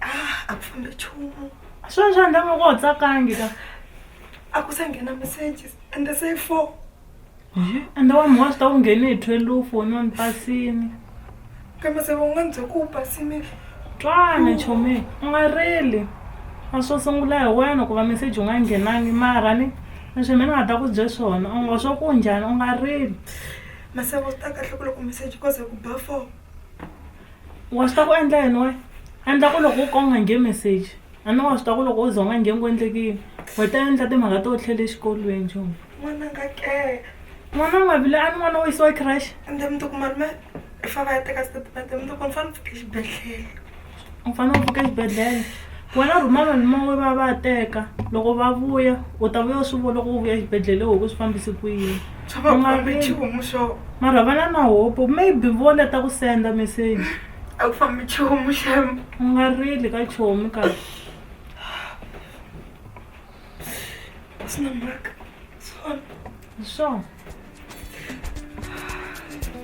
ah, a ku fambe nchumu swona swa ndanga ku u tsakangi ka a ku se nghena messages and the say four ende wa mhwa swi ta ku nghene hi twelve u noni pasini kambe se va nga ndzi ku u pasini twana chomi u nga rili a swo sungula hi wena ku va message u nga nghenangi mara ni leswi mina nga ta ku bye swona u ngo swo ku njhani u nga rili masavo swi ta kahle ku loko message koze ku ba four Wa swi tiva ku endla yini wena? Endla ku loko u ka u nga nge message a ni wa swi tiva ku loko u za u nga nge ku endleke yini we ta endla timhaka to tlhe le xikolweni xo n'wananga ke n'wana u nga vile a ni n'wana wo yisiwa crash ende mi tiku malume i fa va ya teka statement mi tiku ni fane ni pfuke xibedhlele u fanele u pfuke xibedhlele wena rhuma malume we va ya va ya teka loko va vuya u ta vuya u swi vona loko u vuya exibedhlele u ku swi fambise ku yini. mara vana na hope maybe vona ta ku senda message a ku fambi chomu xem u nga rili ka chomu ka sina mhaka swona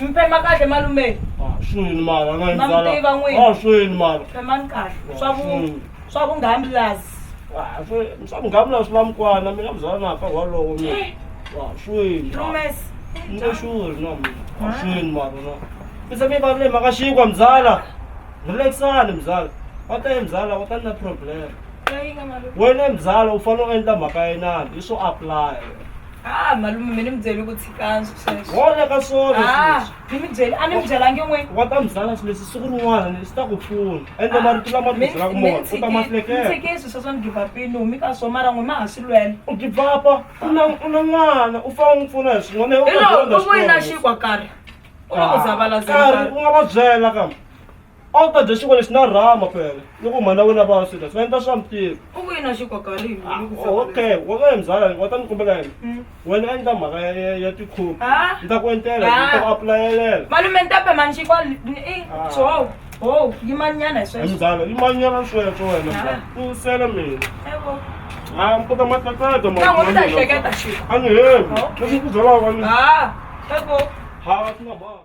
mi phema kahle malume Ah, swini mara na Ma mi tiva n'wini. Ah, swini mara phemani kahle Ah, swa vu swini. swa vunghambilazi Ah, swi- swa mugavula swi la mukwana mina muzala na ka walowo mina Ah, swini mara. lumes Nje sure na mina Ah, swini mara na bese mi valule mhaka xikwa mzala relaxani mzala wa ta ye mzala wa ta ni na problem leyi nga malume wena mzala u fanele u endla mhaka yenani i swo apply ha malume mi ni mi byele ku tshikani hola ka swona Ah, ni mi byele a ni mi byelangi n'wini wa ta mi byala swilo leswi siku rin'wana leswi ta ku pfuna ende marito lama ti byelaka mona u ta ma hleketa mintshikisi sweswo ni givapini humi ka swo mara n'we ma ha swi lwela u givapa u na u na n'wana u fane u n'wi pfuna hi swin'wana u hi ta loko dyondza u voyina xikolo. xinkwa karhi u va u zavala karhi u nga va byela kambe a wu ta dya xinkwa lexi na rama fela loko mhani wa wena va swi dya swi nga endla swa mitirho u ku yini a xi koka rini Ah, ni ku fana okay wa nga mbyala wa ta ni kombela yini Mm. wena endla mhaka ya- ya- ya tikhopi Ah. ni ta ku entela Ah. ni ta ku apulayelela malume ni ta pema ni xikwa Ah. ho ho yimanyana hi sweswo mbyala i manyana sweswo wena Ah. mbyala u nsele mina Evo. a ni kota matlatlata ma- Ntango ni ta ma- hleketa xiko a ni hevi Okay. leswi ku byalaka ni Ah, evo. ha swi nga banga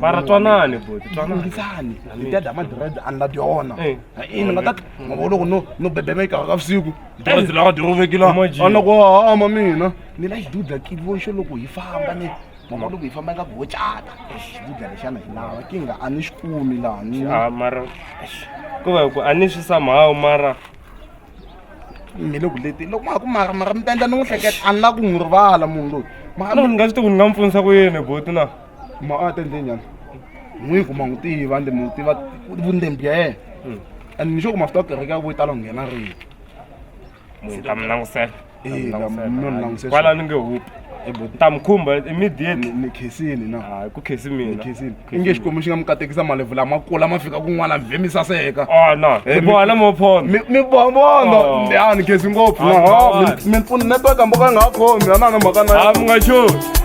mara twanani buti twananiisani hi ta dya madred ani la dyona eh. i ni nga ta mavo loko no no bebemeka ka vusiku dred lawa dyovekila ana ku hama mina ni la xiduda kivoxo loko hi famba ni mama loko hi famba nga ku ho cata xiduda lexana hi lava ki nga a ni xi kumi laha ni ah, mara ku va ku a ni swi samhawu mara mi le ku leteni loko ma ha ku mara mara mi ta endla ni n'wi hleketa a ni la ku n'wi rivala munhu loyi mara ni nga swi tivi ku ni nga mi pfunisa ku yini boti na ma a ta endle njhani n'wi ku ma n'wi tiva ende mi n'wi tiva vundembi bya yena and ni xo ku ma swi ta kereke ya ku yi tala ku nghena rini munhu ta mi langusela kwala ni nge hupi ni ta mi khumba immediately ni khesini na hayi ku khesi mina khesini i nge xikwembu xi nga mi katekisa malevu lama kula ma fika kun'wana vhe mi saseka a na mi boha na mophondo mi mi boha mondo a ni khesi ngopfu na ha mi mi pfuna network hambi ka nga ha khomi a na na mhaka na a mi nga xoni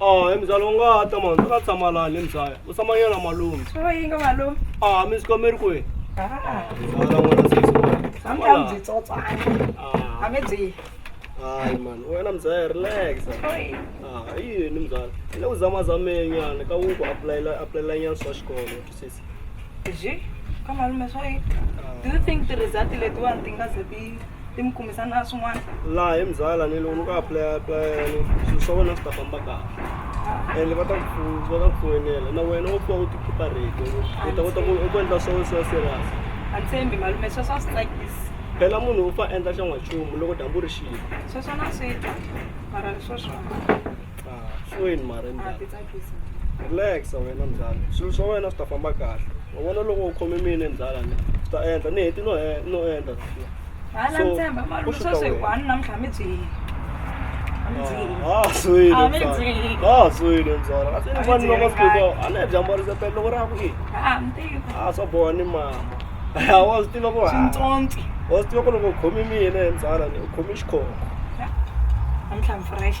Ah, mzala ungata mani, u nga tshama lani mzala. U tshama yena malume. Swi va yinga malume. Ah, mi swikomeri kwihi? Ah. Mzala n'wana se swikomeri. Tshama Hambi a laha. byi tsotswana. Ah, Hambi byi. hayi mani, wena mzala relax. Oi. Ah, i yini mzala? Hi le ku zamazameni nyana ka ku ku apulayela apulayela nyana swa xikolo, u twisisa? Ji, ka malume swo yi. Do you think ti-result letiwani ti nga ze ti ti mi kumisa na swin'wana? laha hi muzala ni loko ni ku aplaya aplaya ni swilo swa wena swi ta famba kahle ende va ta ku pfu- va ta ku foyinela na wena u pfa u ti khipa rito u ta kota ku u ku endla swa wena swi va serious A ni tshembi malume sweswo a swi tsakisi. phela munhu u fa endla xa n'wanchumu loko dyambu ri xile Sweswo na swi twa. Mara leswo swona. Ah, swi wini mara a ti njhani tsakisi relaxa wena mzala swilo swa wena swi ta famba kahle wa vona loko u khome mina mzala ni swi ta endla ni heti no he- no endla hala So, ntshemba u malume swi ta sweswi wena. one namuntlha mi byihile a mi byihile Ah, swi wini Ah, mi mzala. byihile. Ah, swi wini mzala kasi ni Ah, mi vani loko byihile sikuko a ni bya mbarisa pele loko ra ku i ha ntivo a swa boha ni mama a wa swi tiva ku ha swintsonsi wa swi tiva ku loko u khome mina mzala ni u khome xikhoko namuntlha mi fresh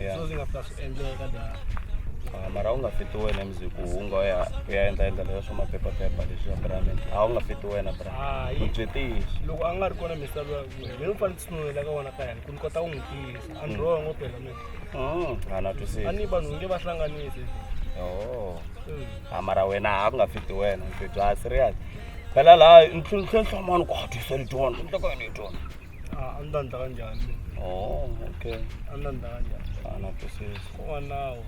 Yeah. so ndzi nga fika swi endleka da Ah, mara u nga fiti wena emziku u nga u ya u ya endla endla leswa swa maphephaphepha leswi ya bramini a wu nga fiti wena bra Hayi. u byi tiyisi loko a nga ri kona misava ya mina ni ni fanele tsunulela ka wona ka yena ku ni kota ku n'wi tiyisa a ni wrong phela mina Mm, a na a twisisi ni vanhu nge va hlanganise Oh. Mm. Ah, mara wena a ku nga fiti wena ndzi bya serious phela laha ntlhontlhontlha mani ku hatisa letiwana nhloko yona letiwana Ah, a ni ta ni ta ka njhani mina oh okay a ni ta ni ta ka njhani fana kusisi ko wa nawu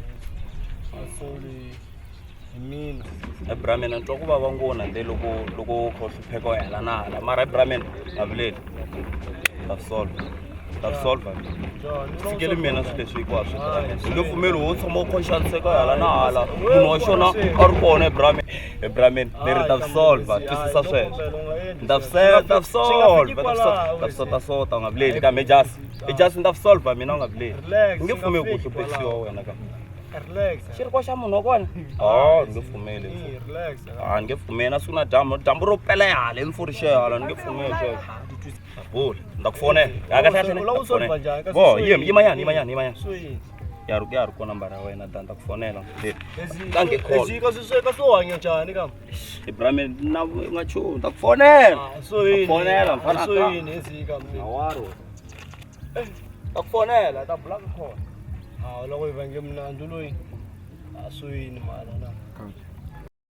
asoli hi mina hi bramena ni twa ku vava ngona nde loko loko u kha u hlupheka u hela na hala mara hi bramena a vileli ta swi solva ta swi solva John, ni fikeli mina swilo leswi hikwaswo swi bramena hi nge pfumeli wo tshama u khonxaniseka u hela na hala munhu wa xona a ri kona hi bramena e bra man ni ri ta swi solva twisisa sweswo ni ta swi ni ta swi solva ni ta swi solva ni ta swi sota sota u nga vileli kambe i just i just ni ta swi solva mina u nga vileli ni nge pfumeli ku hluphekisiwa wena ka xi ri ko xa munhu wa kona o ni nge pfumeli a ni nge pfumeli na siku na dyambu dyambu ro pela hala i mfuri xe hala ni nge pfumeli sweswo bula ni ta ku fonela kahle kahle bo yima yimanyana yimanyana yimanyana ya ri ya ri kona nambara ya wena dan ta ku fonela kange callzika swisweka swo hanya njhani kam ibrahime na nga chuni ta ku fonela ah, soyinifonela mfanasoyini ezika awaro eh, ta ku fonela ta bula ka khona hawu loko yi vange mnandzu loyi a ah, soyini mala na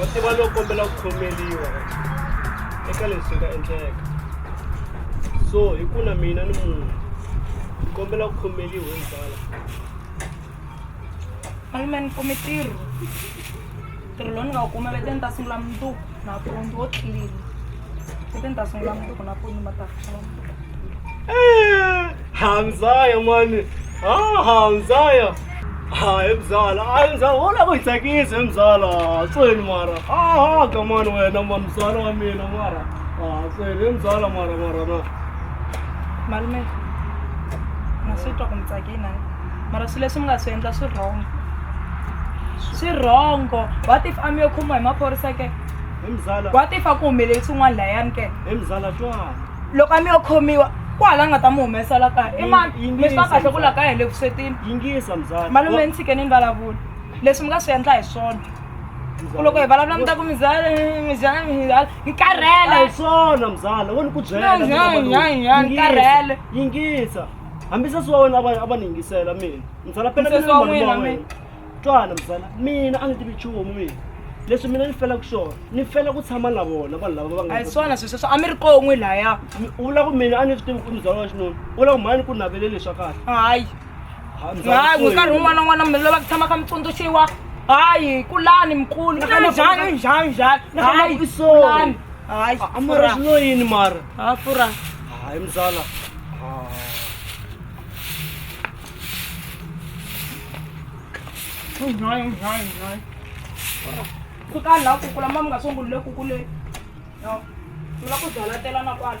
wa tiva lowu kombela ku khomeliwa eka leswi nga endleka so hi ku na mina ni munhu ni kombela ku khomeliwa hi mubala malume ni kume tirho tirho lowu ni nga wu kuma veteni ta sungula mundzuku nampundzu wo tlilini hamzaya mani ha hamzaya hayi mzala hayi mzala wona ku hi tsakise mzala tsweni mara aha ka mani wena mani mzala wa mina mara ha tsweni mzala mara mara na malume na swi twa ku mi tsakina mara swilo leswi mi nga swi endla swi wrong swi wrongo what if a mi yo khomiwa hi maphorisa ke He mzala. What if a ku humelele swin'wana layani ke? He mzala twala. Loko a mi yo khomiwa kwala nga ta mu humesa la kaya i mani Yingi- mi swi va yingisa, kahle ku la mzala. kaya hi le vuswetini Yingisa mzala. malume ni tshikeni ni vulavula leswi mi nga swi endla hi swona ku loko hi vulavula mi ta ku mizala mizala mizala ni karhele Hi swona mzala. Wo ni ku byela. Nyan, mina malume. nyan, nyan, Yingisa, karhele. Yingisa. Hambi sesi wa wena a va a va ni yingisela mina. Mzala phela Sesi mina wa malume n'wina, wa mina. wena. twana mfana mina a ni tivi nchumu mina leswi mina ni felaka swona ni fela ku tshama na vona vanhu lava va nga a hi swona sweswo swa a mi ri kon'we laya Mi- u vula ku mina a ni swi tivi ku muzala wa xinuna u vula ku mhani ku navele leswa kahle hayi Ha, mzala hayi Soyini. nkarhi wun'wana na wun'wana mi lava ku tshama kha mi tsundzuxiwa hayi kulani mkulu Nakhona Kulani, njhani kulani. njhani njhani Nakhona hayi ku sorry. kulani hayi A- a mara swi lo yini mara ha fura hayi mzala Oh, no, no, no. Kuta la ku kula mamu ngaso ngulle ku kule. No. Kula ku dala tela na kwala.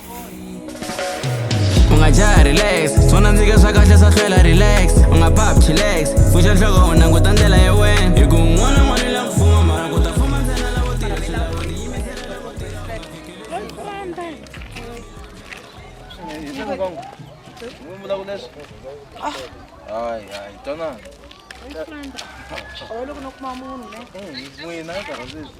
ungajaha relax swona ndzike swa kahle swa hlwela relax u nga pap chilax pfuxa nhloko u languta ndlela ya wena hi ku un'wana n'wana la ku fuma mara ku ta fuma ntsena lavo tirha swi lava ku tiyimisela lavo tirha Ai, ai, então não. Olha, eu não como a mão, né? Hum, não é nada, às vezes.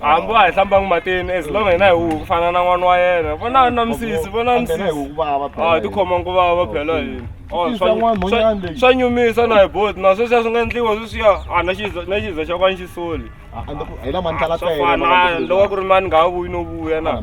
hambi wa hi hlambangi matini as long hina hi huku ku fana na n'wana wa yena vona na misisi vona misisi a ti khoma nguva va phela hina swa nyumisa na hi boti na sweswiya swi nga endliwa sweswiya a na xiza na xiza xa kwani xisoli swafanaa loko ku ri mani nga ha vuyi no vuya na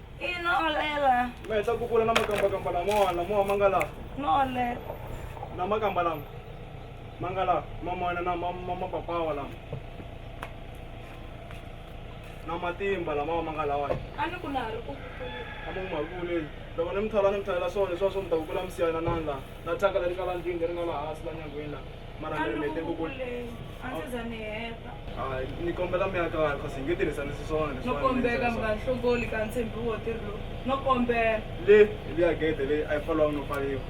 i nolela mi heta ku vula na makambakamba lamawani lamawa ma nga laha nole na makamba lama ma nga laha mamana na ma- ma- mapapawa lama na matimba lamawa ma nga lawani a ni ku na ha ri ku kukula amamahakule loko ni mi thola ni mi tholela swona leswiwa swo mi ta ku kula mi siyana nani laha na thyaka leri nga la ndlwini leri nga laha hansi la nyangweni laha mara mi mi teko ku ni kombela mi aka vanhu kasi hi nge tirhisani swiswona no kombeka mi nga hlongoli ka ntshembi wo tirhi lowu no kombela le liya gede leyi a yi foliwanga no pfaliwa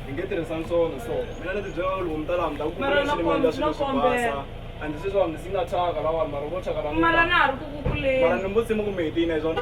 hi nge tirhisani swona so mina ni tibyela loko mi ta laha mi ta ku kumaxilimaendla swilo swo basa a ndzi swiswona ndzi nga thyaka lavanhu mara vo thyaka lamara na ha ri ku kukuleni mara ni mbutsima kumbe hi tiyina hi swona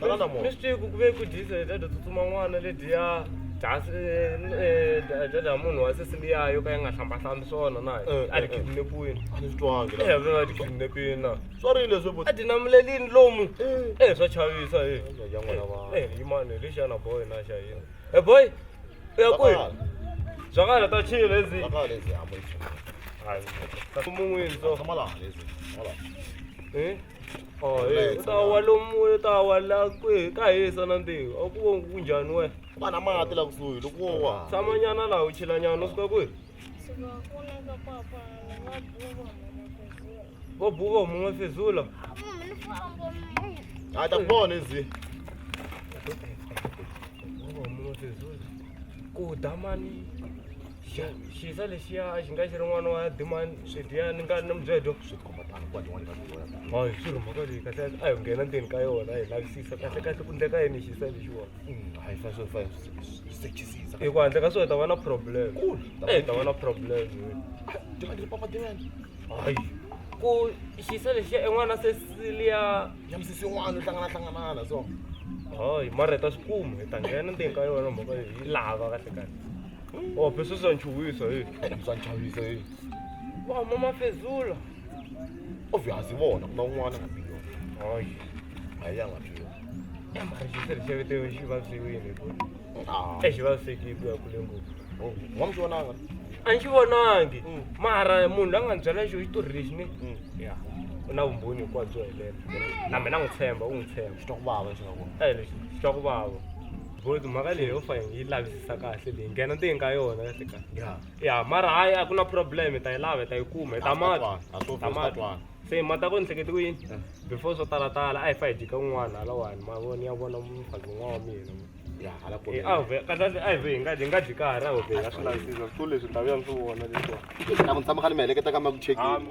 tanana mo mistake kuve ku disa dada tsutsuma n'wana lediya dasi eh, eh, dada ya munhu wa sesiliya yo ka yi nga hlambahlambi swona na Eh, a eh, ti eh. kidnapiwini a ni swi twangi la eve a ti kidnapiwini na swa ri leswi bo a ti namulelini lomu Eh. e swa chavisa e ya n'wana va e yimani lexi yana boy na xa yini e boy u ya kwihi byakala ta chile lezi Bakala lezi hamba lezi. mun'wini so Hamba laha lezi. Hamba laha. Eh? Oh, hey, u ta wa lomu u ta wa la kwihi ta hisa na ntiho a ku vo ku njhani wena va na mati la kusuhi loko wo wa tshamanyana laha u chilanyana u suka kwihi vo buva huma n'we fezula a ta kona ezi buva huma n'we fezula ku dya mali xisa lexiya a xi nga xi ri n'wana wa dimani swidya ni nga na mubyedo swi tikhomba tano kwa tin'wana ka tin'wana hayi swi ri mhaka leyi kahle a hi nghena ndzeni ka yona hi lavisisa kahle kahle ku ndleka yini xisa lexiwona hayi fa swo fa sechisisa hi ku handle ka swona hi ta va na problem Cool. hi ta va na problem dimani papa dimani hayi ku xisa lexiya en'wana se siliya ya misisi yin'wana yo hlangana hlanganana so hayi mara hi ta swi kuma hi ta nghena ndzeni ka yona mhaka leyi yi lava kahle kahle Oh, pesa za nchuwisa eh. Uzanjabulisa yini? Wa mama Fezula. Obviously vona kuna un'wana nga biyo. Hayi. A ya nga biyo. Mara xisele xevete yo xi vaviwile ku. Ah. E xi vavisekile ku ya kule ngopfu. Oh, wa mi vona nga? A ni xi vonangi. Mm. Mara munhu la nga ni byela xo xitori lexi ni. Mm. Ya. U na vumbhoni hinkwabyo helela. Na mina n'wi tshemba, u n'wi tshemba. Xi twa ku vava xi nga vona. Eh, lexi xi twa ku vava. Boys mhaka leyi yo fa hi lavisisa kahle leyi nghena ndzeni ka yona kahle kahle ya ya mara hayi a ku na problem hi ta yi lava hi ta yi kuma hi ta mata a swo ta mata se mata ko ni hleketi ku yini before swo tala tala a hi fa hi jika un'wana halawani ma vona ya vona mfazi un'wana wa mina ya hala ko a ve ka kahle a hi ve hi nga hi nga dyi karhi a ho ve ka swi lavisisa swo leswi ta vuya ni swi vona leswi na ku tshama kha ni mi heleketa ka ma ku chekini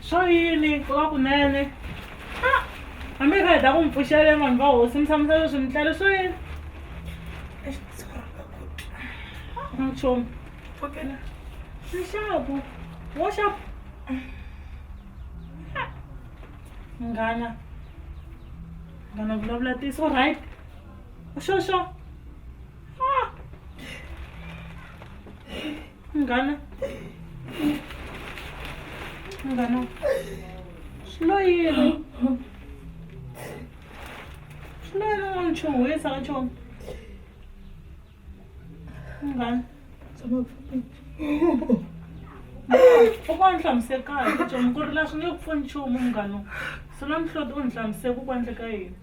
Swa yini ku va kunene a hambi hi kha hi ta ku mi pfuxele vanhu va hosi mi tshamisa leswi mi tlele swa yini nchumu nxaku wo xaku nghana nghana vulavula tiso right xo xo Munghana. Munghana. Swi lo yini? Swi lo yini u nga ni chuhisa ka chona? Munghana. Tshama pfuni. Kokwana hlamusela kahle chona ku ri la swi nge ku pfuni nchumu munghana. Swi na mihloti u ni hlamusela ku ku endleka yini?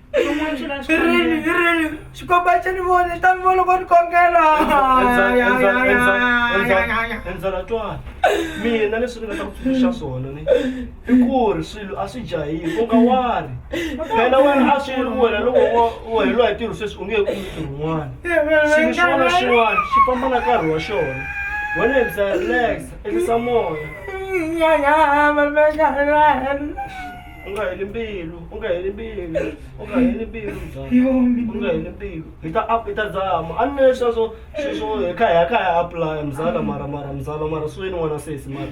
xikomba xa ni vona xi ta mi vona ko ni kongela endzela twana mina leswi ni nga ta ku tsundzuxa swona ni i ku ri swilo a swi jahile u nga wari phela wena a swi ri wena loko u heleriwa hi ntirho sweswi u nge he kumi ntirho wun'wana xilo xin'wana na xin'wana xi famba na nkarhi wa xona wena endla relax elisa moya u nga heli mbilu u nga heli mbilu u nga heli mbilu mzanhi u nga heli mbilu hi ta up hi ta zama a ni na leswiya swo sweswo hi kha hi ya kha hi ya apply mzala mara mara mzala mara swi ni n'wana sesi mara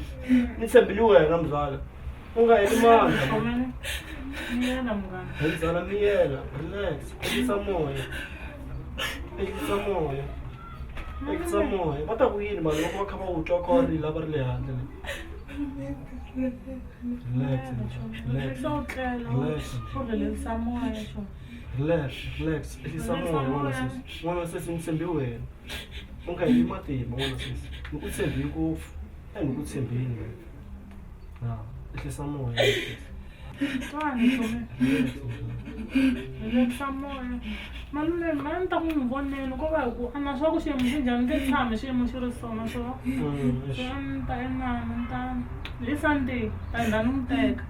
ni tshembile wena mzala u nga heli mandla Khomela. Miyela munghana. hi mzala miyela relax ehlisa moya ehlisa moya ehlisa moya va ta ku yini vanhu loko va kha va wu twa kha va rila va ri le handle Relax, relax, Sawucela relax, uvelelisa moya nje. relax, relax. Ehlisa moya n'wana sesi. N'wana sesi ni tshembe wena. U nga heli matimba n'wana sesi. Ni ku tshembe ngopfu. A ni ku tshembeni wena. Ha, ehlisa moya n'wana sesi. Twani Relax, Relax. Relax moya. Malume ma ni ta ku n'wi voneni ko va hi ku a na swa ku xiyimo xi njhani ni nge tshami xiyimo xi ri sona so Mm, se a ni ta inani ni ta hi sunday ta hina ni n'wi teka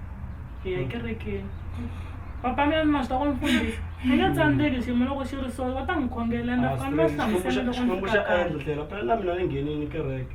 hi ya kerekeni papa mina ni ma swi ta ku ni fundisa ni nge tsandzeki xiyimo loko xi ri so va ta n'wi khongela ende a ni va hlamusela loko ni Xikwembu fika xa kaya endla tlhela phela na mina ni nghenini kereke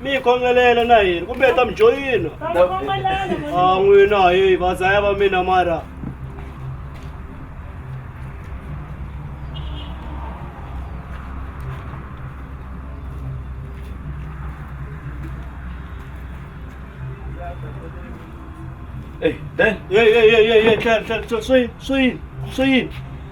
mi yi khongelela na yini kumbe hi ta mi joyina a n'wina hayi vazaya va mina mara Hey, Dan. Hey, hey, hey, hey, hey, Tlhela, tlhela, swi, swi, swi.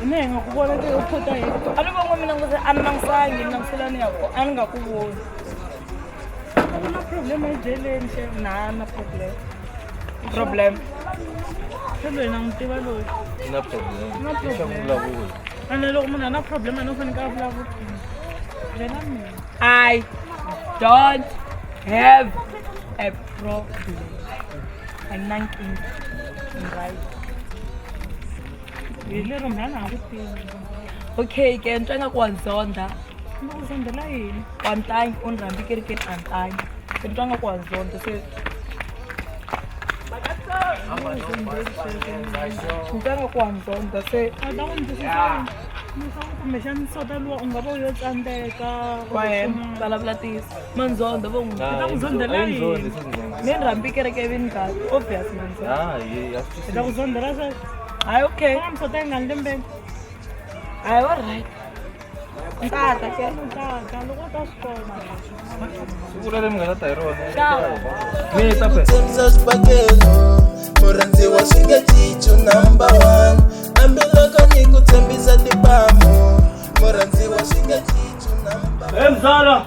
mina hi nga ku vona ke u phota hi a ni vongo mina ngose a ni langusangi ni languselani ya ko a ni nga ku voni ku na problem ejeleni xe na na problem problem se loyi na n'wi tiva loyi na problem na problem ene loko munhu a na problem ene u faneke a vulavula yena mina i don't have a problem anakini right hi lero mhana ha ku tivi okay ke ni twa nga ku wa ni zondha ni ku zondhela yini wa ni tangi u ni rhambi kerekeni a ni tangi se ni twa nga ku wa ni zondha se ni twa nga ku wa ni zondha se a ta ku ni twisisa kumbexani sota luwa u nga va u yo tsandzeka waye vulavula tisi manzondo vo n'wi ta ku zondzela yini ni rhambi kereke evini ka obvious manzondo ah, i ta ku zondzela sweswo hayi okay na msota yi nga ni lembeni hayi wa right ntata ke ntata loko ta swi kona siku leri mi nga ta ta hi rona mi ta pesa swibakelo murhandziwa swi nge cicu number one hambiloko ni ku tshembisa tipamu murhandziwa swi nge cicu number hey mzala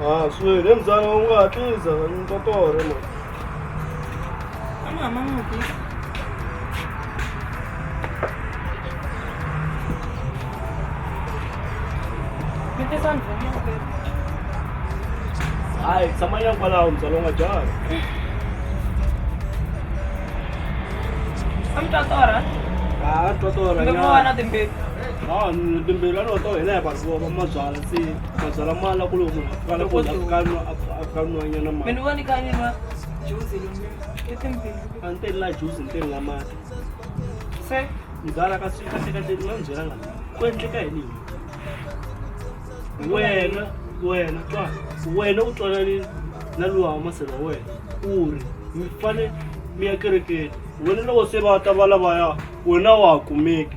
a swi hi le mbyana u nga hatlisa ni ta torha mani hayi tshama nyana kwalaho mbyana u nga dyanga a mi ta torha a twa torha nyana timbirhi a ni timbirhi a ni wa to hina hi vazola mabyala se Mazala mala kule munhu akala ku ya kanu akanu anyana mali. Mina wani kanye ma juice lo. Ete mpini. Ante la juice mpini nga mati. Se mzala ka sika sika te no njela nga. Ku endleka yini? Wena wena twa wena u twana ni na luwa wa masela wena u ri mi fane mi ya kerekeni wena loko se va ta va lavaya wena wa ha kumeki.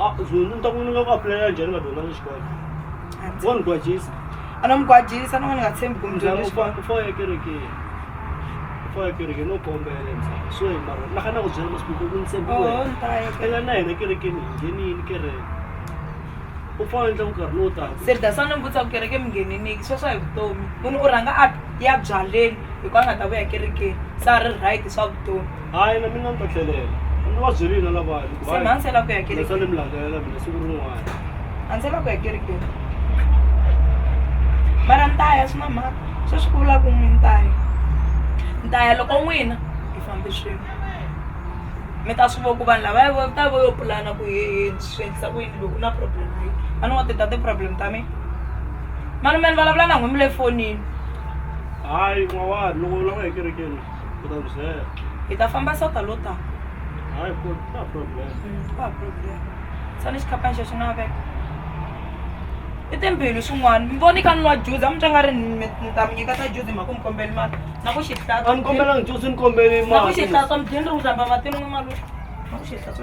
Ah, Zulu, ni ta ku ni nga ku apulayela njhani ka dyondza ni xikolo wo ni gwajisa a no mi gwajisa no n'wi ni nga tshembi kumbe njhani xikolo u faya ekerekeni u faya ekerekeni no kombela ntsena so hi mara na kana ku byela masiku ku ni tshembi oho wena ni ta ya ke- ela na hina kerekeni hi nghenini kereke u faya endla nkarhi lowu taka se dasa ni mbutsa ku kereke mi ngheneniki sweswo hi vutomi munhu u rhanga a ya byaleni hikuva a nga ta vuya kerekeni se a ri right swa vutomi hayi na mina ni ta tlhelela ni va byerile na lavaya ni ku se hayi mhani se la ku ya leswa kereke ni mi landzelela mina siku rin'wana a ni se la ku ya kereke mara ni ta ya swi na mhaka sweswi ku vula ku n'wi ni ta ya ni ta ya loko n'wina hi fambe swin'we mi ta swi vona ku vanhu lava vo ta vo yo pulana ku hehe swi endlisa ku yini loko u na problem leyi a ni wa ti ta ti-problem ta mina mani mani vulavula na n'wimi le fonini hayi n'wawari loko u lava ekerekeni Hi ta famba so ta lo ta. Hayi ku ta problem. Mm, ku ta problem. Sani xikhaphani xexo na veka. I timbhili swin'wana. Mi voni ka nwa juzi, a mi twa nga ri ni ta mi nyika ta juzi mhaka mi kombeli mali. Na ku xi hlatsa. A ni kombela ngi juzi ni kombeli mali. Na ku xi hlatsa mi dyini ri ku hlamba matini n'wi malume. Na ku xi hlatsa.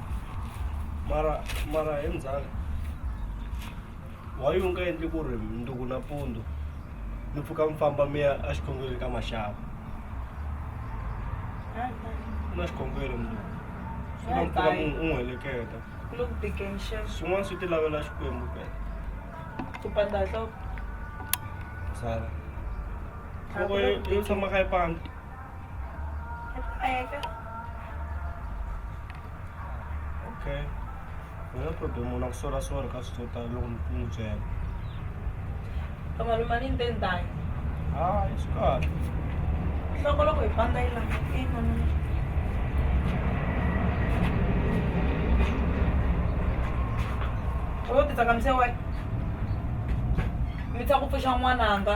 mara mara hi mzala why u nga endli ku ri mundzuku nampundzu mi pfuka mi famba mi ya exikhongweni ka maxava ku na xikhongweni mundzuku swi nga mi pfuna mu u n'wi heleketa Look big and sharp. swin'wana swi ti lavela xikwembu pela Kupanda hloko. mzala nhloko yo yo tshama ka yi pandza Pega. Okay. No problem, una kusola swona ka swi tota loko ni n'wi byela. Ka malume ni nte ndhayo. Ah, swi kahle. Loko loko hi famba yi langa ina mina. Wo titsakamise wena. Mi tsa ku pfuxa n'wananga.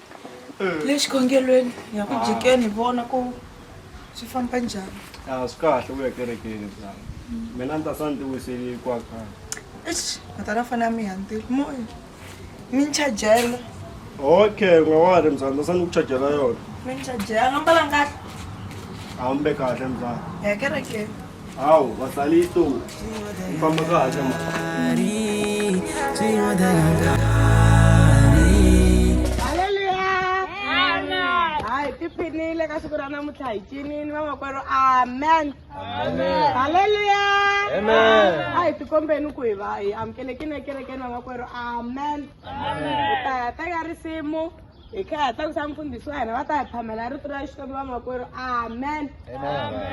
eh. le xikhongelweni hi ya ku ah. jikeni hi vona ku swi famba njhani a ah, swi kahle ku ya kerekeni mzana mina ni ta sa ni ti wiseli hikwakhaa eish matana fana ya mi hantile moya mi ni chajela okay u nga wa ri mzana ta sa ni ku chajela yona mi ni chajela a nga mbalanga kahle a wu mbe kahle mzana hi ya kerekeni Hawu, basale ihlungu. Mfamba kahle ma. hayi ti phinile ka siku ra namuntlha hi cinini vamakwerhu amen halleluya a hi tikombeni ku hi va hi amukelekini ekerekeni vamakwerhu amen hi ta ya teka risimu hi khaya ta ku xa mfundhisi wa hina va ta hi phamela rito ra xikwembu vamakwerhu amen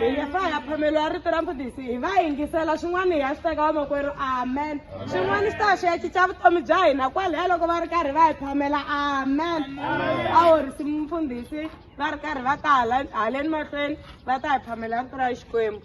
hi nge fa ya phameliwa rito ra mfundhisi hi va yingisela swin'wana hi ya swi teka vamakwerhu amen swin'wana swi ta swi ya cinca vutomi bya hina kwalaya loko va ri karhi va hi phamela amen a horisi mfundhisi va ri karhi va ta haleni mahlweni va ta hi phamela rito ra xikwembu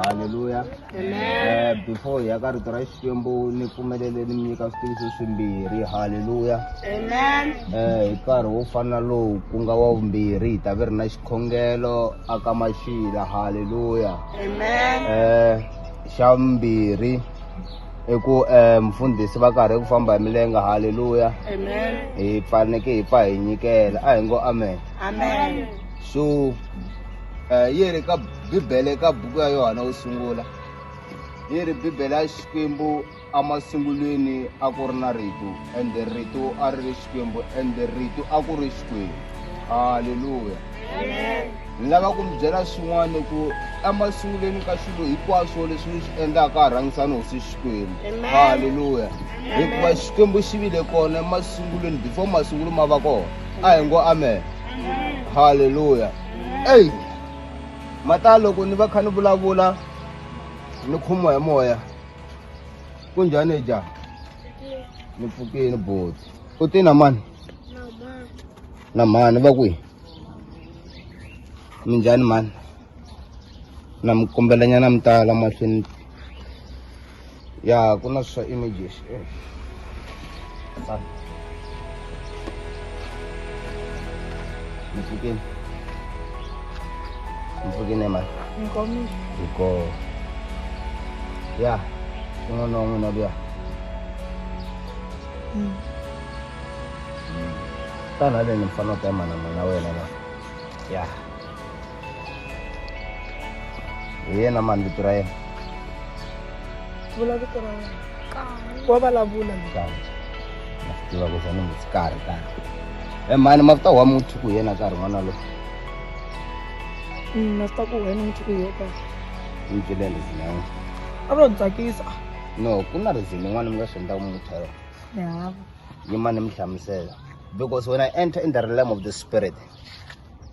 halleluya Eh, before hi ya ka rito ra xikwembu ni pfumelele ni mi nyika switiviso swimbirhi halleluya Amen. Eh, hi nkarhi wo fana lowu ku nga wa vumbirhi hi ta ve ri na xikhongelo aka maxila halleluya Amen. eh xa vumbirhi i ku eh mfundhisi va karhi ku famba hi milenge halleluya Amen. hi faneke hi pfa hi nyikela a hi ngo amen Amen. so um eh, yi ri ka bibele ka buku ya yohana wo sungula yi ri bibele ya xikwembu emasungulweni a ku ri na rito ende rito a ri ri xikwembu ende rito a ku ri xikwembu halleluya ni lava ku mi byela swin'wana ku emasungulweni ka swilo hinkwaswo leswi ni swi endlaka a rhangisa ni hosi xikwembu halleluya hikuva xikwembu xi vile kona emasungulweni before masungulo ma va kona a hi ngo amen halleluya eyi mata loko ni va kha ni vulavula ni khomiwa hi moya ku njhani ja ni pfukini boti u te na mani na mani va kwihi mi njhani mani na mi kombelanyana mi tala mahlweni ya ku na swa images eh. mpfukeni mpfukeni emani hiko ya un'wana wa n'wina luya mm. mm. tana haleni mfana ta emana n'wina wena la ya yeah. hi yena mani vito ra yena vula vito ra wena wa vulavula na swi tiva ku za ni mutsi karhi tani e mani mavuta wa muthu ku yena karhi n'wana lo mm, na swi ta ku wena muthu ku yo karhi ni byele reason ya wena a ro ni tsakisa no ku na reason yin'wana mi nga swi endlaka muthu yaro yavo yimani mi hlamusela because when i enter in the realm of the spirit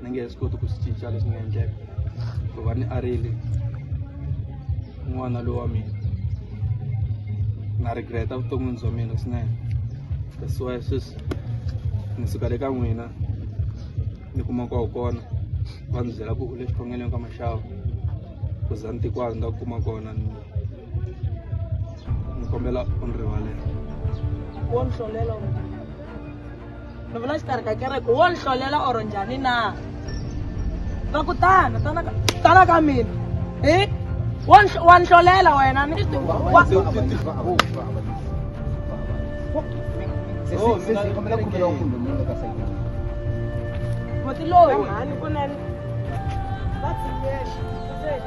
na nge he swi koti ku swi cinca leswi nga endleka ku va ni arile n'wana lowa mina na regreta vuton'wini bya mina swinene that's why sweswi ni suka le ka n'wina ni kuma kwaho kona va ndzi byela ku u le xikhongelweni ka maxavu ku za ni tikwazi ni nga kuma kona ni ni kombela u ni rivalela wo ni hlolela ni vula xikarhi ka kereke wo ni hlolela or njhani na va ku tana tana ka tana ka mina hi wa ni- wa ni hlolela wena ni wa- muti loyi mhani kunene va tshinyela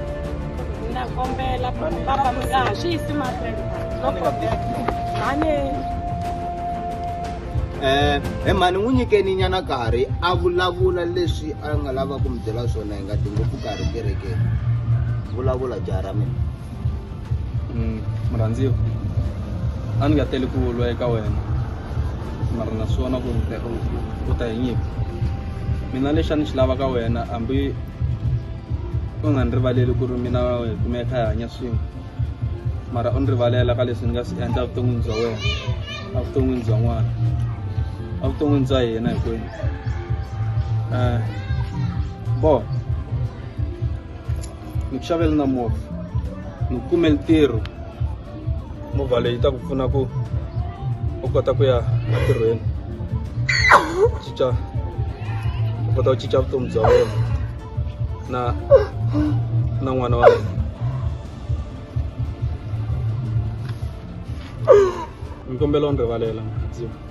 na kombela baba mi nga ha swi yisi mahlweni no problem mhani eh he mhani n'wi nyikeni nyana karhi a vulavula leswi a nga lava ku mi byela swona hi nga dingo ku karhi kerekeni vulavula jaha ra mina mm, murhandziwa a ni nga teli ku lwa eka wena mara na swona ku u ta hi nyika mina lexi a ni xi lava ka wena hambi u nga ni rivaleli ku ri mina hi kume hi kha hi hanya swin'we mara u ni rivalela ka leswi ni nga swi endla evuton'wini bya wena evuton'wini bya n'wana evuton'wini bya hina hinkwenu um bo ni ku xavela na movha ni ku kumeli ntirho movha leyi ta ku pfuna ku u kota ku ya entirhweni cinca u kota ku cinca vutomi bya wena na na n'wana wa wena mi kombela u ni rivalela mukhandziyi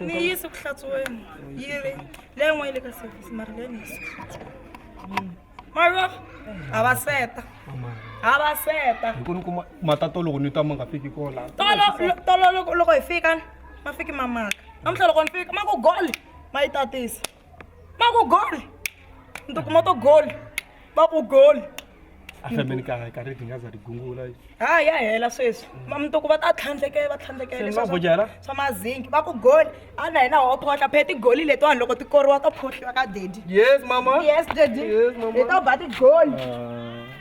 ni yi yisi ku hlatsuweni yi ri leyi n'wana yi le ka service mara leyi ni yisi ku hlatsuweni mara ha va seta ha va seta hi ku ni kuma matato loko ni twa ma nga fiki kola tolo tolo loko loko hi fika ma fiki ma maka namuntlha loko ni fika ma ku gole ma yi tatisa va ku gol ni tikuma to gol va ku gol ahlambeni ka ka ri dinga za ri gungula ha ya hela sweswi ma mi toko va ta tlhandlekela va tlhandlekela swa bojela swa mazingi va ku gol a na hina ho phohla phe ti goli leti vanhu loko ti koriwa to phohliwa ka daddy yes mama yes daddy yes mama hi to ba ti gol ah.